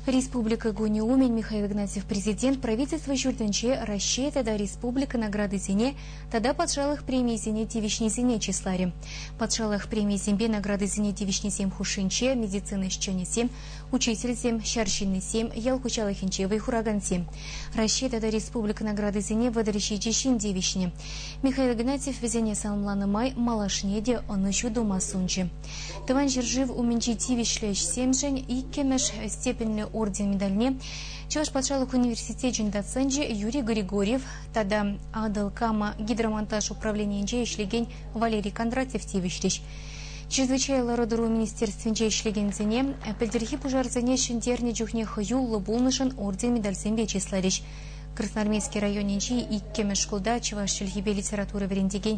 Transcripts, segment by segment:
Республика кунӗ умӗн Михаил Игнатьев Президент Правительство ҫуртӗнче Раҫҫей тата республика наградисене тата патшалӑх премийӗсене тивӗҫнисене чысларӗ. Патшалӑх премийӗсемпе наградисене тивӗҫнисем хушшинче медицина ӗҫченӗсем, учительсем, ҫар ҫыннисем, ял хуҫалӑхӗнче вӑй хуракансем. Раҫҫей тата республика наградисене вӑтӑр ҫичӗ ҫын тивӗҫнӗ. Михаил Игнатьев вӗсене саламланӑ май малашне те ӑнӑҫу тума сунчӗ. Тӑван ҫӗршыв умӗнчи тивӗҫлӗ ӗҫсемшӗн иккӗмӗш степеньлӗ орден медальне Чӑваш патшалӑх университечӗн доценчӗ Юрий Григорьев тата Атӑл Кама гидромонтаж управленийӗнче ӗҫлекен Валерий Кондратьев тивӗҫрӗҫ. Чрезвычай лару-тӑру министерствинче ӗҫлекенсене пӗлтӗрхи пушарсене ҫӗнтернӗ чухне хӑюллӑ пулнӑшӑн орден-медальсемпе чысларӗҫ. Красноармейски районӗнчи иккӗмӗш шкулта чӑваш чӗлхипе литература вӗрентекен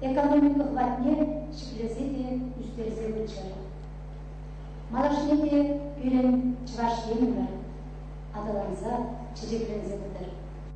Экономика хватне ҫӗклесе те ӳстерсе пыччӑр. Малашне те пирӗн Чӑваш Енӗмӗр аталанса, чечекленсе пытӑр.